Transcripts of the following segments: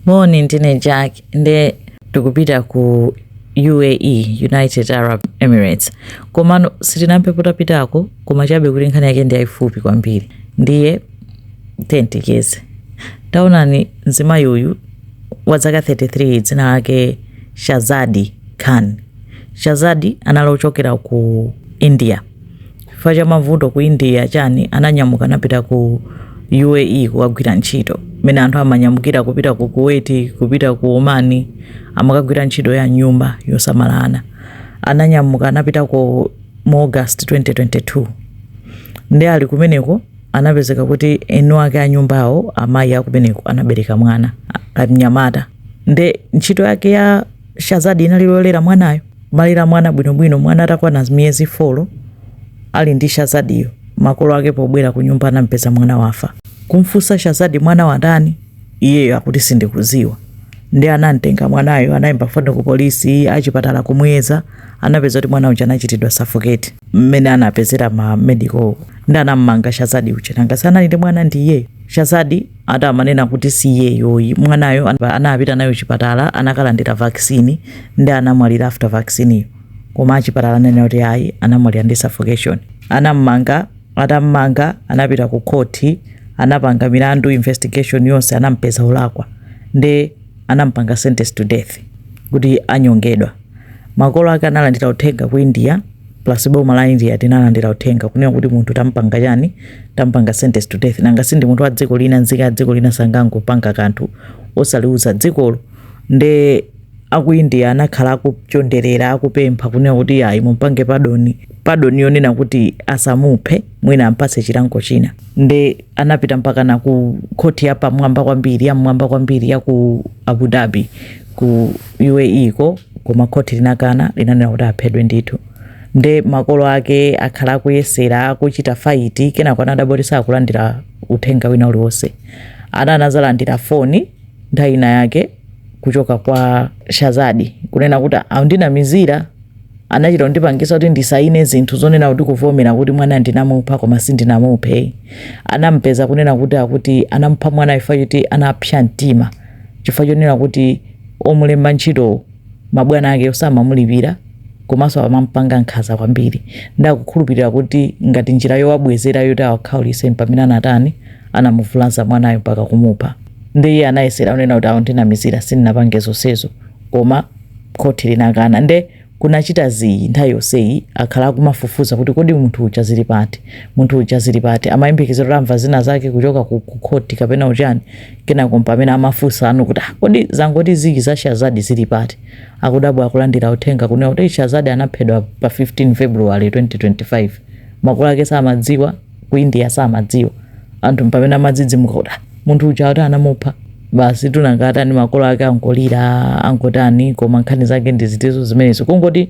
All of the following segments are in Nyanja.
Moni, ndine Jack nde tikupita ku UAE, United Arab Emirates. Komano sitinampepo tapitako koma chabe kuti nkhani yake ndi yaifupi kwambiri. Ndiye tiyeni ticheze. Taonani mzimayi uyu wa dzaka 33 dzina lake Shazadi Khan. Shazadi anali ochokera ku India. chifukwa cha mavuto ku india chani ananyamuka anapita ku uae kukagwira ntchito mene anthu amanyamukira kupita ku kuwait kupita ku oman amakagwira ntchito ya nyumba yosamala ana ananyamuka anapitako mu august 2022 ndi ali kumeneko anapezeka kuti eni ake a nyumbawo amayi akumeneko anabereka mwana a- kamnyamata nde ntchito yake ya shazadi inali yolera mwanayo Amalera mwana bwinobwino mwana atakwana miyezi 4 ali ndi shazadiyo makolo ake pobwera kunyumba anampeza mwana wafa. Kumfunsa Shazadi mwana watani iyeyo akuti sindikuziwa ndi anamtenga mwanayo anayimba foni ku polisi achipatala kumuyeza anapeza kuti mwana uja anachitidwa suffocate mmene anapezera ma medical ndi anammanga Shazadi uja nanga si anali ndi mwana ndi iyeyo Shazadi ati amanena kuti si iyeyo ayi mwanayo an- anapita naye chipatala anakalandira vaccine ndi anamwalira after vaccineyo koma achipatala ananena kuti ayi anamwalira ndi suffocation anammanga atammanga anapita ku khoti anapanga milandu investigation yonse anampeza olakwa ndi anampanga sentence to death kuti anyongedwa makolo ake analandira uthenga ku india plus boma la india linalandira uthenga kunena kuti munthu tampanga chani tampanga sentence to death nanga sindi munthu wa dziko lina nzika ya dziko lina sangangopanga kanthu osaliuza dzikolo nde aku india anakhala akuchonderera akupempha kunena kuti ayi mumpange pardon pardon yonena kuti asamuphe mwina ampatse chilango china nde anapita mpakana ku khoti ya pamwamba kwambiri ya mmwamba kwambiri ya ku abu dhabi ku uae ko koma khoti linakana linanena kuti aphedwe ndithu nde makolo ake akhala akuyesera akuchita fight kenako anadabwa kuti sakulandira uthenga wina uliwonse ana anazalandira foni nthawi ina yake kuchoka kwa shazadi kunena kuti andinamizira Anachita kundipangisa kuti ndisayine zinthu zonena kuti kuvomera kuti mwana ndinamupha koma sindinamuphe. Anamupeza kunena kuti akuti anamupha mwana chifukwa choti anapsa mtima chifukwa chonena kuti omulemba ntchito mabwana ake osamamulipira komanso amamupanga nkhanza kwambiri. Nde akukhulupirira kuti ngati njira yowabwezera yoti awakhaulise ndi pamene anatani anamuvulaza mwanayo mpaka kumupha. Nde iye anayesera kunena kuti akundinamizira sindinapange zonsezo koma. khoti linakana nde kunachita zii nthawi yonseyi akhala akumafufuza kuti kodi munthu uja zili pati za munthu uja zili pati amayembekezera kuti amva zina zake kuchoka ku ku khoti kapena uchani kenako mpamene amafunsa anthu kuti "Ah, kodi zangoti zii za shazadi zili pati akudabwa akulandira uthenga kunena kuti "Eh, shazadi anaphedwa pa 15 february 2025 makolo ake samadziwa ku india samadziwa anthu mpamene amadzidzimuka kuti "Ah, munthu uja ati anamupha basi nanga atani makolo ake angolira angotani koma nkhani zake ndi zimenezo zimenezo kungoti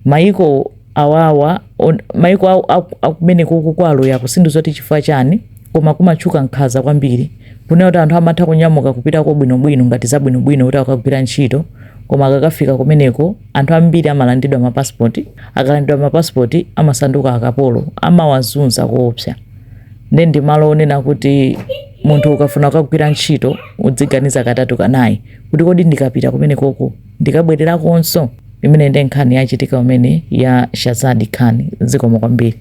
maiko awawa on- maiko awo- aku- akumeneko ku Arabia uku sindidziwa kuti chifukwa chani koma kumatchuka nkhanza kwambiri kunena kuti anthu amatha kunyamuka kupitako bwinobwino ngati zabwinobwino kuti akagwira ntchito koma akakafika kumeneko Anthu ambiri amalandidwa ma passport, akalandidwa ma passport amasanduka akapolo, amawazunza koopsa. Nde ndi malo onena kuti munthu ukafuna kukagwira ntchito udziganiza katatu kanayi kuti kodi ndikapita kumenekoko ndikabwererakonso. Imene nde nkhani yachitika kumene ya Shazadi Khan. Zikomo kwambiri.